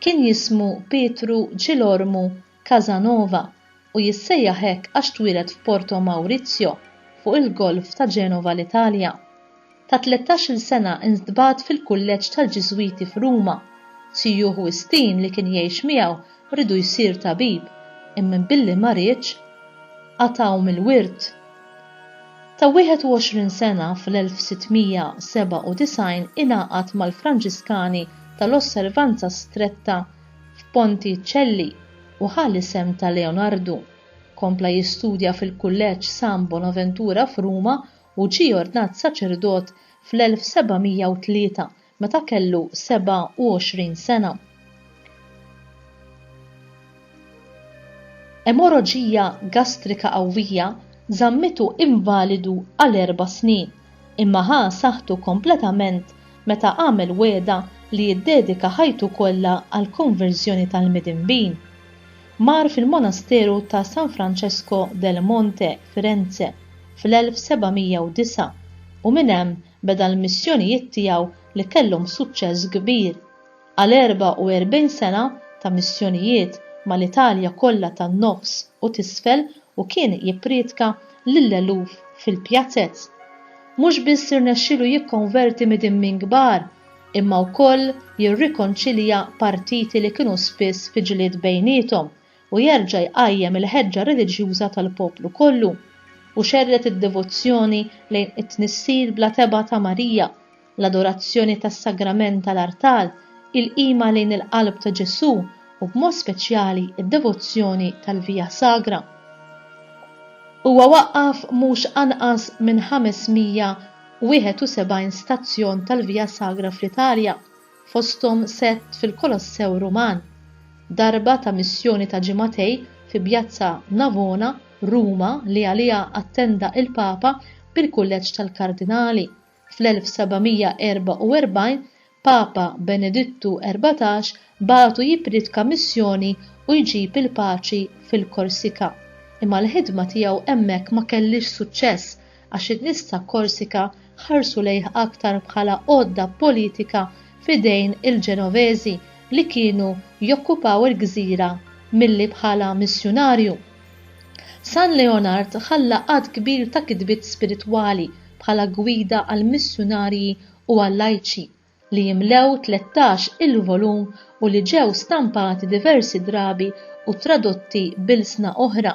Kien jismu Pietru Ġilormu Casanova u jissejjaħ hekk għax twieled f'Porto Maurizio, fuq il-Golf ta' Genova l-Italja. Ta' tlettax-il sena ntbagħat fil-kulleġġ tal-Ġiżwiti f'Ruma. Sijuh Wistin li kien jgħix miegħu riedu jsir tabib, imma billi ma riedx, qatgħu mill-wirt. Ta' 21 sena fl-1697 ingħaqad mal-Franġiskani tal-Osservanza Stretta f'Ponticelli u ħa l-isem ta' Leonardu. Kompla jistudja fil-Kulleġġ San Bonaventura f'Ruma u ġie ordnat saċerdot fl-1703 meta kellu 27 sena. Emorraġija gastrika qawwija żammitu invalidu għal erba' snin, imma ħa saħħtu kompletament meta għamel wegħda li jiddedika ħajtu kollha għall-konverżjoni tal-midinbin. Mar fil-monasteru ta' San Francesco del Monte, Firenze, fl-1709 u minn hemm beda l-missjonijiet tiegħu li kellhom suċċess kbir. Għal 44 sena ta' missjonijiet mal-Italja kollha tan-Nofs u t'Isfel u kien jipprietka lill-eluf fil-pjazez. Mhux biss irnexxielu jikkonverti midimmin kbar, imma wkoll jirrikonċilja partiti li kienu spiss fi ġlied bejniethom u jerġa' jqajjem il-ħeġġa reliġjuża tal-poplu kollu, u xerred id-devozzjoni lejn it-Tnissil bla tebgħa ta' Marija, l-adorazzjoni tas-sagrament tal-artal, il-qima lejn il-qalb ta' Ġesù, u b'mod speċjali d-devozzjoni tal-Via Sagra. Huwa waqqaf mhux anqas minn 571 stazzjon tal-Via Sagra fl-Italja, fosthom sett fil-Kolossew Ruman, darba ta' missjoni ta' ġimagħtej fi Bjazza Navona, Ruma li għaliha attenda l-Papa bil-Kulleġġ tal-Kardinali. Fl-1744 Papa Benedittu Erbatax bagħtu jippriedka missjoni u jġib il-paċi fil-Korsika. Imma l-ħidma tiegħu hemmhekk ma kellhiex suċċess għax in-nies ta' Korsika ħarsu lejh aktar bħala għodda politika f'idejn il-Ġenoveżi li kienu jokkupaw il-gżira milli bħala missjunarju. San Leonard ħalla għadd kbir ta' kitbiet spiritwali bħala gwida għall-missjunarji u għal-lajċi, li jimlew tlettax il-volum u li ġew stampati diversi drabi u tradotti b'ilsna oħra.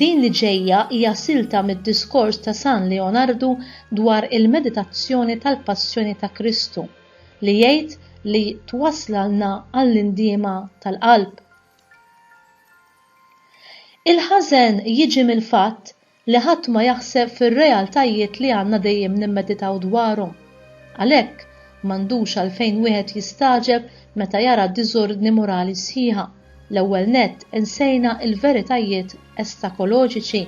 Din li ġejja hija silta mid-diskors ta' San Leonardu dwar il-meditazzjoni tal-Passjoni ta' Kristu, li jgħid li twasslna għall-indiema tal-qalb. Il-ħażen jiġi mill-fatt li ħadd ma jaħseb fir-realtajiet li għandna dejjem nimmeditaw dwarhom. Għalhekk, m'għandux għalfejn wieħed jistagħġeb meta jara diżordni morali sħiħa, l-ewwel nett insejna l-veritajiet estakoloġiċi.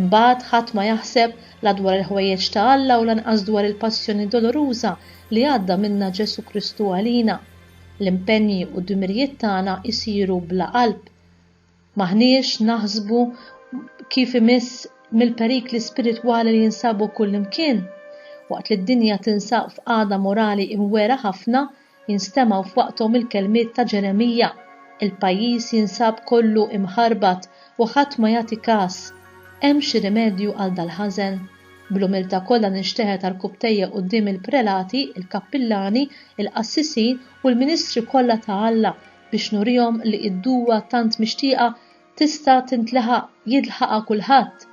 Imbagħad ħadd ma jaħseb la dwar il-ħwejjeġ ta' Alla u lanqas dwar il-passjoni doloruża li għadda minnha Ġesù Kristu għalina. L-impenji u d-dmirijiet tagħna jsiru bla qalb. M'aħniex naħsbu kif imiss mill-perikli spiritwali li jinsabu kullimkien. Waqt li d-dinja tinsab f'qagħda morali imwera ħafna, jinstemgħu f'waqthom il-kelmiet ta' Ġeremija, Il-pajjiż jinsab kollu imħarbat u ħadd ma jagħti kas. Hemm xi rimedju għal dal-ħażen? Bl-umiltà kollha ninxteħet għarkupptejja quddiem il-prelati, il-kappillani, il-qassisin u l-ministri kollha ta' Alla biex nurihom li id-duwa tant mixtieqa tista' tintleħaq jilħaqha kulħadd,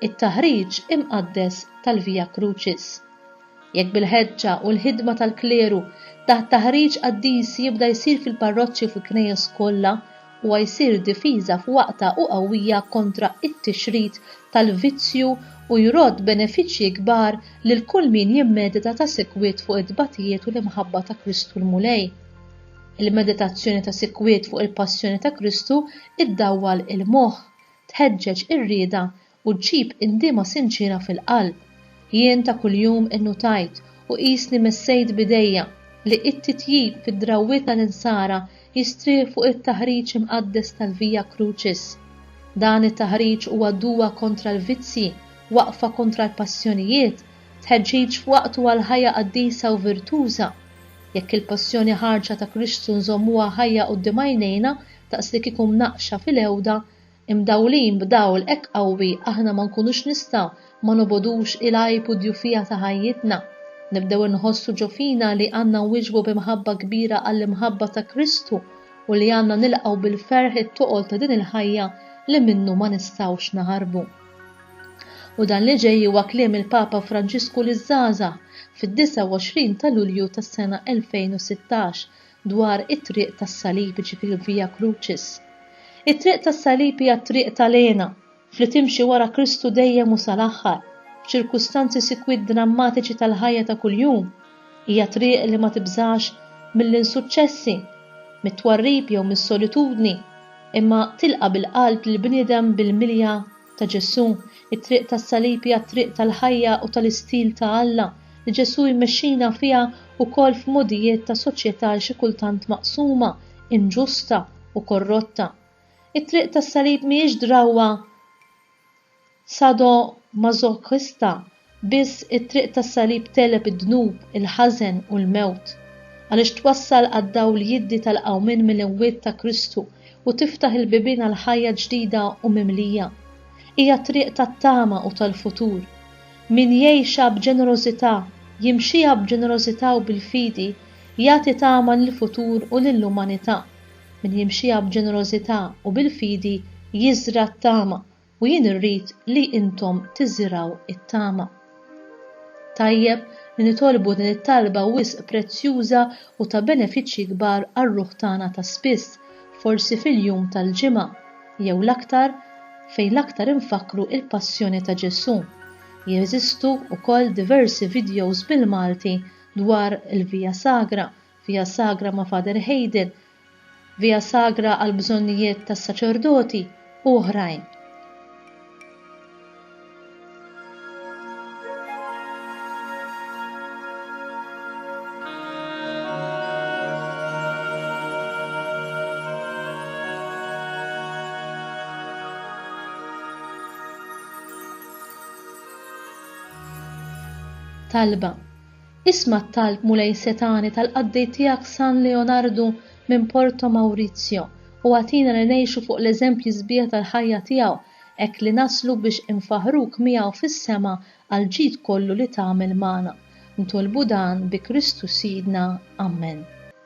it-taħriġ imqaddes tal-Via Crucis. Jekk bil-ħeġġa u l-ħidma tal-kleru da' taħriġ qaddis jibda jsir fil-parroċċi u fil-knejjes kollha, Huwa jsir difiża f'waqtha u qawwija kontra t-tixrid tal-vizzju u jrodd benefiċċji kbar lil kull min jimmedita ta' sikwit fuq it-tbatijiet u l-imħabba ta' Kristu l-Mulej. Il-meditazzjoni ta' sikwit fuq il-passjoni ta' Kristu ddawwal il-moħħ, tħeġġeġ ir-rieda, u ġġib indiema sinċiera fil-qalb. Jien ta' kuljum innutajt u qisni messejt b'idejja li t-titjib fid-drawwiet tal-Insara jistrieħ fuq it-taħriġ imqaddes tal-Via Crucis. Dan it-taħriġ huwa duwa kontra l-vizzji, waqfa kontra l-passjonijiet, tħeġġiġ f'waqtu għal ħajja qaddisa u virtuża. Jekk il-passjoni ħarġa ta' Kristu nżommuha ħajja quddiem għajnejna daqslikieku mnaqqxa fil-għewda, Imdawlin b'dawl hekk qawwi aħna ma nkunux nistgħu ma nobogħdux il-għajb u d-djufija ta' ħajjitna. Nibdew inħossu ġo fina li għandna nwieġbu bi mħabba kbira għall-imħabba ta' Kristu u li għandna nilqgħu bil-ferħ it-toqol ta' din il-ħajja li minnu ma nistgħux naħarbu. U dan li ġej huwa kliem il-Papa Franġisku liż-żgħażagħ fid-29 ta' Lulju tas-sena 2016 dwar it-Triq tas-Salib, jiġifieri l-Via Crucis. It-Triq tas-Salib hija t-triq ta' l-hena, f'li timxi wara Kristu dejjem u sa l-aħħar, f'ċirkustanzi sikwit drammatiċi tal-ħajja ta' kuljum. Hija triq li ma tibżax mill-insuċċessi, mit-twarrib jew mis-solitudni, imma tilqa' bil-qalb lill-bniedem bil-milja ta' Ġesù, it-triq tas-salib hija t-triq tal-ħajja u tal-istil ta' Alla li Ġesù jmexxina fiha wkoll f'mogħdijiet ta' soċjetà xi kultant maqsuma, inġusta, u korrotta. It-triq tas-salib mhijiex drawwa sadomasochista Biss it-triq tas-salib tegħleb id-dnub, il-ħażen, u l-mewt. Għaliex twassal għad-dawl jiddi tal-qawmien mill-imwiet ta' Kristu u tiftaħ il-bibien għal ħajja ġdida u mimlija. Hija triq tat-tama u tal-futur. Min jgħixha b'ġenerożità, jimxiha b'ġenerożità u bil-fidi, jagħti tama lill-futur u lill-umanità. Min jimxiha b'ġenerożità u bil-fidi jiżra' t-tama u jien irrid li intom tiżirgħu t-tama. Tajjeb li nitolbu din it-talba wisq prezzjuża u ta' benefiċċji kbar għar-ruħ tagħna ta' spiss, forsi fil-jum tal-Ġimgħa, jew l-aktar, fejn l-aktar infakkru l-Passjoni ta' Ġesù. Jeżistu wkoll diversi videos bil-Malti dwar il-Via Sagra, Via Sagra ma' Father Hayden, Via Sagra għall-bżonnijiet tas-saċerdoti u oħrajn. talba Isma' t-talb Mulej setgħani tal-qaddej tiegħek San Leonardu minn Porto Maurizio u agħtina li ngħixu fuq l-eżempji sbieħ tal-ħajja tiegħu hekk li naslu biex infaħħruk miegħu fis-sema għall-ġid kollu li tagħmel magħna. Ntolbu dan bi Kristu Sidna. Ammen.